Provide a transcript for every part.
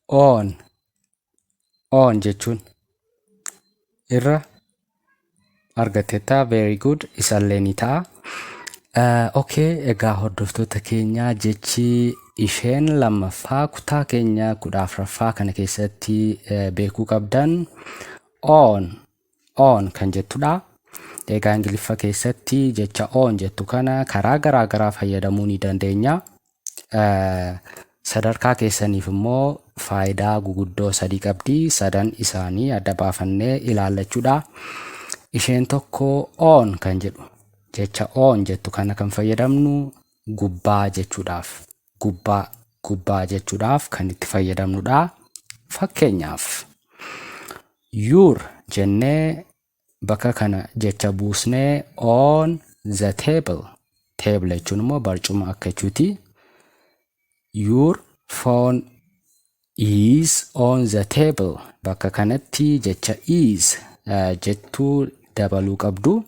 on on jechuun irra argatteetta very good isallee ni ta'a Eh, okay egaa hordoftoota keenya jechi isheen lammaffaa kutaa keenya kudha afraffaa kana keessatti eh, beekuu qabdan on on kan jettudha egaa ingiliffa keessatti jecha on jettu kana karaa garaa garaa fayyadamuu ni dandeenya Sadarkaa keessaniif immoo faayidaa guguddoo sadii qabdi. Sadan isaanii adda baafannee ilaalla jechuudha. Isheen tokko oon kan jedhu jecha oon jettu kana kan fayyadamnu gubbaa jechuudhaaf gubbaa gubbaa jechuudhaaf kan itti fayyadamnudha. Fakkeenyaaf yuur jennee bakka kana jecha buusnee on the table table jechuun immoo barcuma akka jechuuti your phone is on the table bakka kanatti jecha is uh, jettuu dabaluu qabdu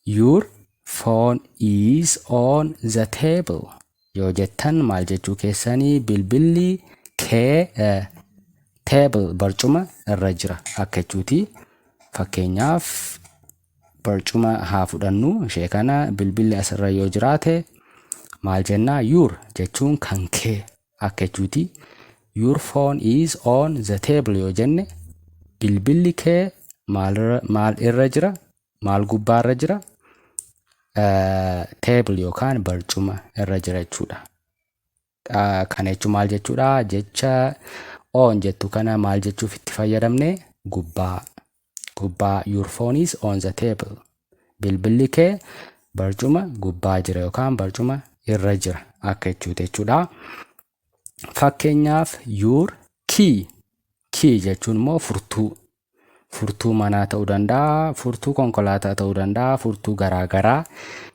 Your phone is on the table yoo jettan maal jechuu keessanii bilbilli kee eh, table barcuma irra jira akka jechuuti fakkeenyaaf barcuma haa fudhannu ishee kana bilbilli asirra yoo jiraate maal jennaa yuur jechuun kan kee Akka jechuuti your phone is on the table yoo jenne bilbilli kee maalirra maal irra jira maal gubbaarra jira eh, table yookaan barcuma irra jira jechuudha. Ah, Kana jechuun maal jechuudha jecha on jettu kana maal jechuuf itti fayyadamne gubbaa gubbaa your phone is on the table bilbilli kee barcuma gubbaa jira yookaan barcuma irra jira akka jechuuti jechuudha. Fakkeenyaaf your key key jechuun immoo furtuu furtuu manaa ta'uu danda'a furtuu konkolaataa ta'uu danda'a furtuu garaagaraa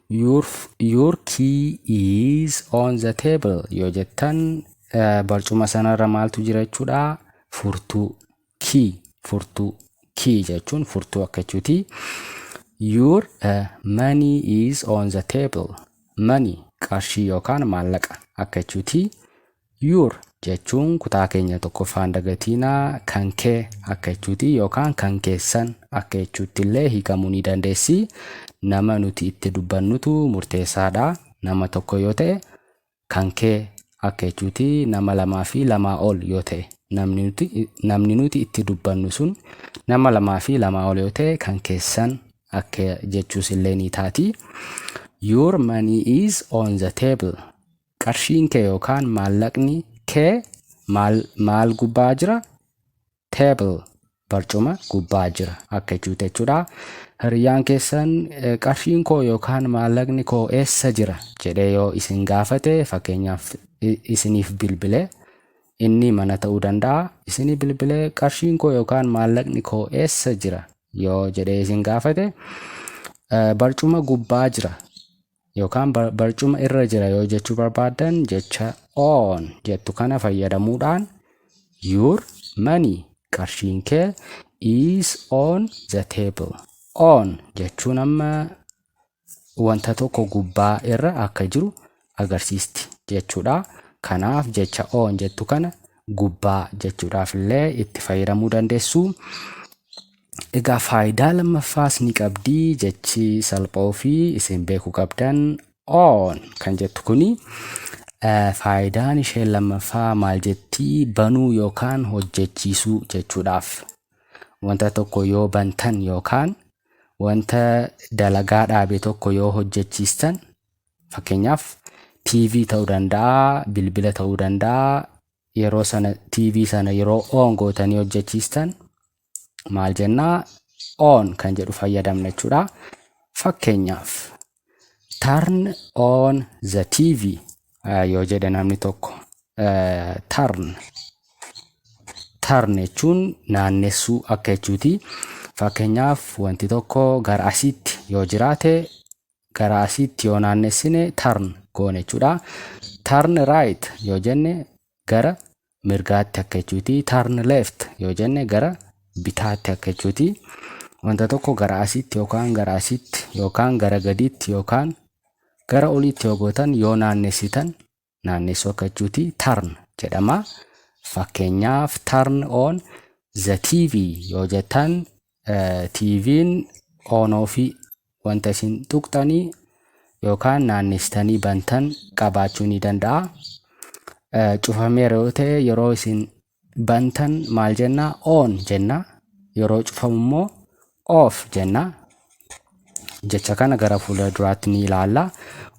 your, your key is on the table yoo jettan uh, barcuma sanarra maaltu jira jechuudha furtuu key furtuu key jechuun furtuu akka jechuuti your uh, money is on the table money qarshii yookaan maallaqa akka jechuuti your jechuun kutaa keenya tokkoffaan dagatiinaa kan kee akka jechuuti yookaan kan keessan akka jechuutti illee hiikamuu ni dandeessi nama nuti itti dubbannutu murteessaadha nama tokko yoo ta'e kan kee akka jechuuti nama lamaa fi lamaa ol yoo ta'e namni nuti namni nuti itti dubbannu sun nama lamaa fi lamaa ol yoo ta'e kan keessan akka jechuus illee ni taati. Your money is on the table. Qarshiin kee yookaan maallaqni kee maal maal gubbaa jira? table barcuma gubbaa jira akka jechuuti jechuudha. Hiriyyaan keessan eh, qarshiin koo yookaan maallaqni koo eessa jira jedhee yoo isin gaafate fakkeenyaaf i- isiniif bilbile inni mana ta'uu danda'a. Isinii bilbile qarshiin koo yookaan maallaqni koo eessa jira yoo jedhee isin gaafate eh, barcuma gubbaa jira yookaan bar- barcuma irra jira yoo jechuu barbaaddan jecha on jettu kana fayyadamuudhaan your money qarshiin kee is on the table on jechuun amma wanta tokko gubbaa irra akka jiru agarsiisti jechuudha. Kanaaf jecha on jettu kana gubbaa jechuudhaaf illee itti fayyadamuu dandeessu. Egaa faayidaa lammaffaas ni qabdi jechi salphoo fi isin beeku qabdan on kan jettu kuni faayidaan isheen lammaffaa maal jetti banuu yookaan hojjechiisuu jechuudhaaf wanta tokko yoo bantan yookaan wanta dalagaa dhaabe tokko yoo hojjechiistan fakkeenyaaf TV ta'uu danda'a bilbila ta'uu danda'a yeroo sana TV sana yeroo on gootanii hojjechiistan maal jennaa on kan jedhu fayyadamna jechuudha. Fakkeenyaaf turn on the TV yoo jedhe namni tokko turn turn jechuun naannessuu akka jechuuti. Fakkeenyaaf wanti tokko gara asiitti yoo jiraate gara asiitti yoo naannessine turn goone jechuudha. Turn right yoo jenne gara mirgaatti akka jechuuti. Turn left yoo jenne gara bitaatti akka jechuuti. Wanta tokko gara asiitti yookaan gara asiitti yookaan gara gadiitti yookaan gara oliitti yoo gootan yoo naannessitan naannessoo akka jechuuti turn jedhama. Fakkeenyaaf turn on the TV yoo jettan eh, TV'n on ofii wanta isin tuqxanii yookaan naannessitanii bantan qabaachuu ni danda'a. Eh, Cufameera yoo ta'e yeroo isin bantan maal jenna on jenna yeroo cufamu immoo off jenna jecha kana gara fuula duraatti ni ilaalla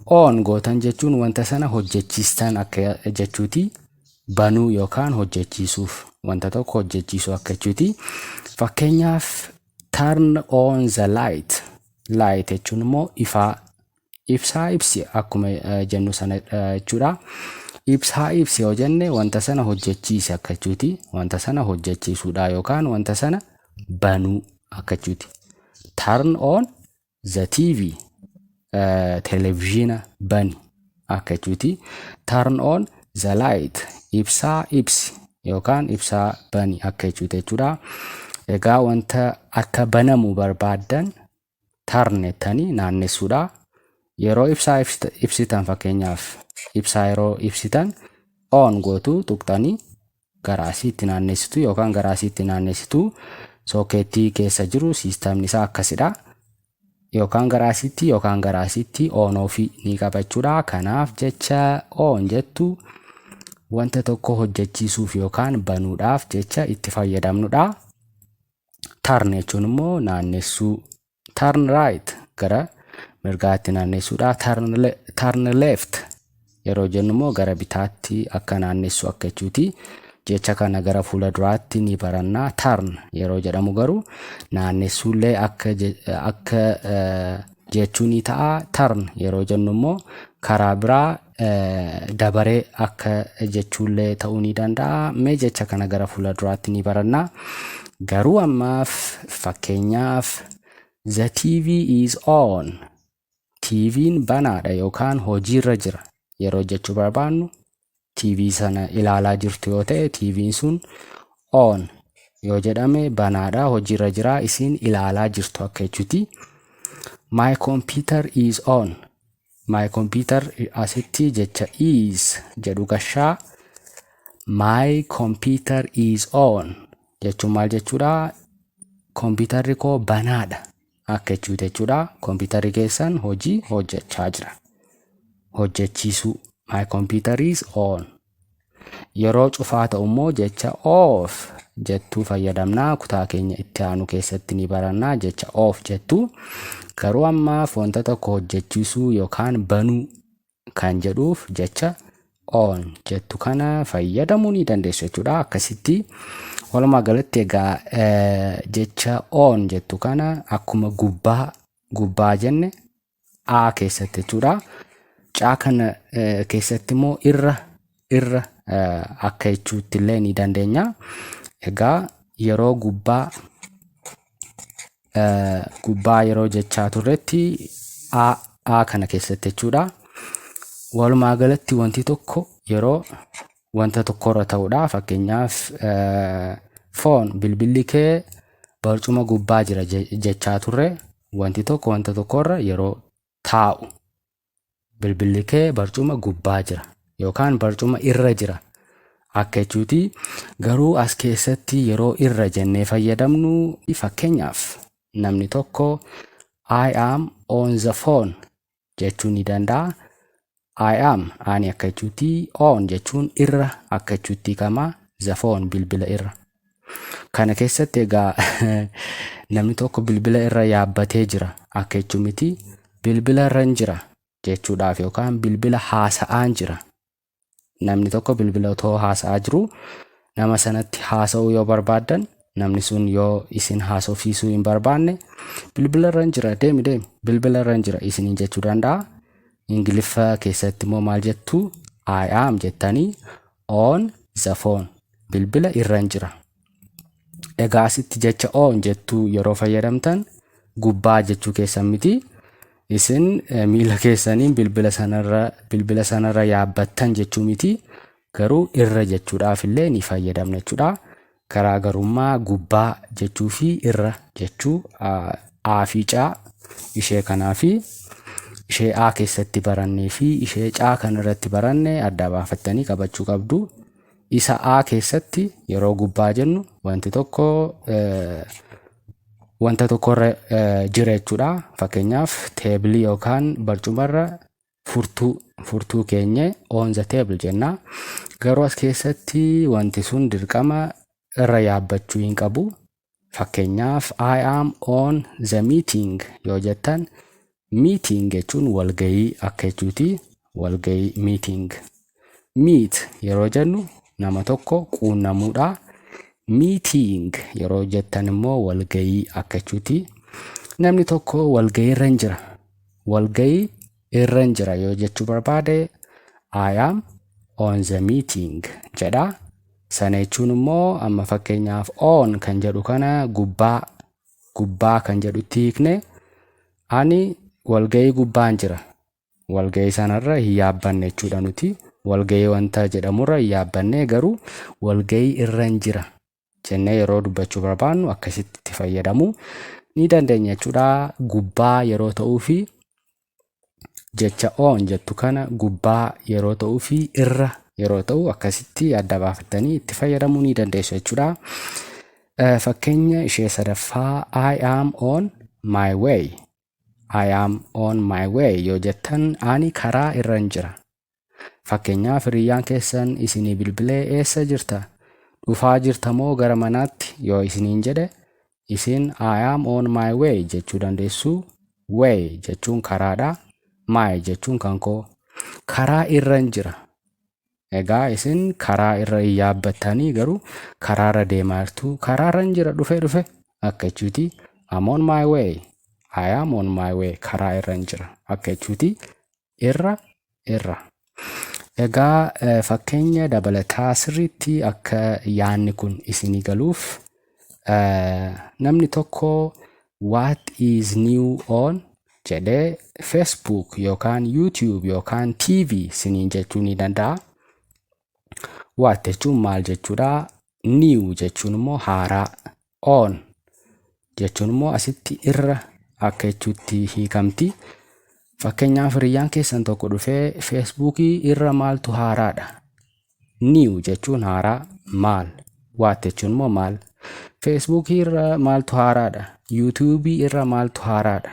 on gootan jechuun wanta sana hojjechiistan akka jechuuti banuu yookaan hojjechiisuuf wanta tokko hojjechiisuu akka jechuuti fakkeenyaaf turn on the light light jechuun immoo ifaa Ibsaa ibsi akkuma jennu sana jechuudha. Ibsaa ibsi yoo jenne wanta sana hojjechiisi akka jechuuti. Wanta sana hojjechiisuudha yookaan wanta sana banuu akka jechuuti. Turn on the TV televiziyoona bani akka jechuuti. Turn on the light ibsaa ibsi yookaan ibsaa bani akka jechuuti jechuudha. Egaa wanta akka banamu barbaaddan turn jettanii naannessuudha. Yeroo ibsaa ibsitan fakkeenyaaf ibsaa yeroo ibsitan on gootu tuqxanii gara asiitti naannessitu yookaan gara asiitti naannessitu sookeettii keessa jiru siistamni isaa akkasidha. Yookaan gara asiitti yookaan gara asiitti on ofii ni qabachuudha. Kanaaf jecha on jettu wanta tokko hojjechiisuuf yookaan banuudhaaf jecha itti fayyadamnudha. Tarn jechuun immoo naannessuu. Tarn right gara mirgaatti naannessuudha. Tarn, le tarn left yeroo jennu immoo gara bitaatti akka naannessu akka jechuuti. Jecha kana gara fuula duraatti ni baranna. Tarn yeroo jedhamu garuu naannessuullee akka, akka uh, jechuu ni ta'a. Tarn yeroo jennu immoo karaa biraa dabare akka jechuullee ta'uu ni danda'a. Mee jecha kana gara fuula duraatti ni baranna. Garuu ammaaf fakkeenyaaf the TV is on. TV'n banaadha yookaan hojiirra jira yeroo jechuu barbaannu TV sana ilaalaa jirtu yoo ta'e TV'n sun on yoo jedhame banaadha hojiirra jira isin ilaalaa jirtu akka jechuuti. My computer is on. My computer asitti jecha is jedhu gashaa my computer is on jechuun maal jechuudha kompiitarri koo banaadha akka jechuuti jechuudha kompiitarri keessan hojii hojjechaa jira hojjechiisuu my computer is on Yeroo cufaa ta'u immoo jecha of jettuu fayyadamna. Kutaa keenya itti aanu keessatti ni baranna jecha of jettu. Garuu amma foonta tokko hojjechiisuu yookaan banuu kan jedhuuf jecha on jettu kana fayyadamuu ni dandeessu jechuudha. Akkasitti walumaa galatti egaa jecha on jettu kana akkuma gubbaa gubbaa jenne a keessatti jechuudha. Caa kana eh, keessatti immoo irra irra eh, akka jechuutti illee ni dandeenya. Egaa yeroo gubbaa eh, gubbaa yeroo jechaa turretti a a kana keessatti jechuudha. Walumaa galatti wanti tokko yeroo wanta tokkorra ta'uudha. Fakkeenyaaf foon bilbilli kee barcuma gubbaa jira jechaa turre wanti tokko wanta tokkorra yeroo taa'u bilbilli kee barcuma gubbaa jira yookaan barcuma irra jira akka jechuuti. Garuu as keessatti yeroo irra jennee fayyadamnu fakkeenyaaf namni tokko I am on the phone jechuu ni danda'a. I am ani akka jechuutti on jechuun irra akka jechuutti kama the phone bilbila irra. Kana keessatti egaa namni tokko bilbila irra yaabbatee jira akka jechuu miti bilbila irra hin jira jechuudhaaf yookaan bilbila haasa'aan jira Namni tokko bilbila otoo haasa'aa jiruu nama sanatti haasa'uu yoo barbaaddan namni sun yoo isin haasofsiisuu hin barbaanne bilbila irra hin jira deemi deemi bilbila irra hin jira isiniin jechuu danda'a. Ingiliffa keessatti immoo maal jettu I am jettanii on the phone bilbila irra hin jira Egaa asitti jecha oon jettuu yeroo fayyadamtan gubbaa jechuu keessan miti. Isin miila keessaniin bilbila sanarra bilbila sanarra yaabbattan jechuu miti. Garuu irra jechuudhaaf illee ni fayyadamna jechuudha. Garaagarummaa gubbaa jechuu fi irra jechuu A fi C ishee kanaa fi ishee A keessatti barannee fi ishee C kanarratti baranne adda baafattanii qabachuu qabdu. Isa A keessatti yeroo gubbaa jennu wanti tokko wanta tokkorra jira jechuudha. Fakkeenyaaf teebilii yookaan barcumarra furtuu furtuu keenye on the table jenna. Garuu as keessatti wanti sun dirqama irra yaabbachuu hin qabu. Fakkeenyaaf I am on the meeting yoo jettan meeting jechuun walgayii akka jechuuti walgayii meeting. Meet yeroo jennu nama tokko quunnamuudha. Meeting yeroo jettan immoo walgayii akka jechuuti. Namni tokko walgayiirra hin jira. Walgayii irran jira yoo jechuu barbaade I am on the meeting jedha. Sana jechuun immoo amma fakkeenyaaf on kan jedhu kana gubbaa gubbaa kan jedhutti hiikne ani walga'ii gubbaan jira. Walga'ii sanarra hin yaabbanne jechuudha nuti. Walga'ii wanta jedhamurra hin yaabbanne garuu walga'ii irran jira jennee yeroo dubbachuu barbaannu akkasitti itti fayyadamuu ni dandeenya jechuudha. Gubbaa yeroo ta'uu fi jecha oon jettu kana gubbaa yeroo ta'uu fi irra yeroo ta'u akkasitti adda baafattanii itti fayyadamuu ni dandeessu jechuudha. Eh, Fakkeenya ishee sadaffaa I am on my way. I am on my way yoo jettan ani karaa irran jira. Fakkeenyaaf hiriyyaan keessan isinii bilbilee eessa jirta? Dhufaa jirta moo gara manaatti? yoo isiniin jedhe isin I am on my way jechuu dandeessu. Way jechuun karaadha. My jechuun kan koo. Karaa irran jira. Egaa isin karaa irra hin yaabbattanii garuu karaarra deemaa jirtu. Karaarran jira dhufe dhufe akka jechuuti. I'm on my way. I am on my way karaa irran jira akka jechuuti. irra irra. Egaa eh, fakkeenya dabalataa sirriitti akka yaanni kun isinii galuuf eh, namni tokko what is new on jedhee Facebook yookaan YouTube yookaan TV siniin jechuu ni danda'a. What jechuun maal jechuudha? New jechuun immoo haaraa on jechuun immoo asitti irra akka jechuutti hiikamti. Fakkeenyaaf hiriyyaan keessan tokko dhufee feesbuukii irra maaltu haaraadha. Niiw jechuun haaraa maal waat jechuun immoo maal. Feesbuukii irra maaltu haaraadha. Yuutuubii irra maaltu haaraadha.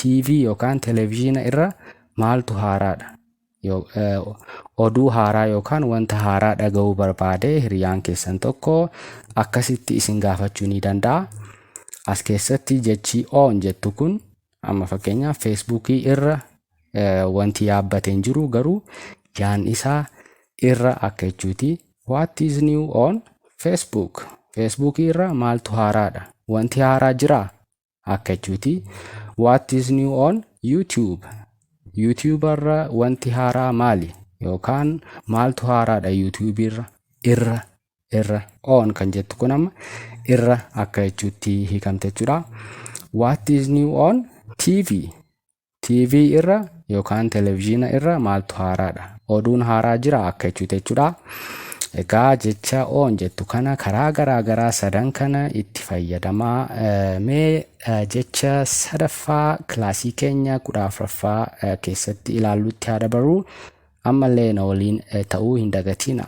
TV yookaan televezyiina irra maaltu haaraadha. Yoo, eh, oduu haaraa yookaan wanta haaraa dhaga'uu barbaade hiriyaan keessan tokko akkasitti isin gaafachuu ni danda'a. As keessatti jechi on jettu kun amma fakkeenyaaf feesbuukii irra eh, wanti yaabbate hin jiru garuu yaan isaa irra akka jechuuti. What is new on Facebook? Feesbuukii irra maaltu haaraadha? Wanti haaraa jiraa? akka jechuuti what is new on youtube youtube irra wanti haaraa maali yookaan maaltu haaraadha youtube irra irra irra on kan jettu kun amma irra akka jechuutti hiikamte jechuudha what is new on tv TV irra yookaan televizhiina irra maaltu haaraadha? Oduun haaraa jira akka jechuuti jechuudha. Egaa jecha oon jettu kana karaa garaa garaa sadan kana itti fayyadamaa. Eh, Mee eh, jecha sadaffaa kilaasii keenya kudha afuraffaa eh, keessatti ilaallutti haa dabarru. Ammallee na waliin eh, ta'uu hin dagatiina.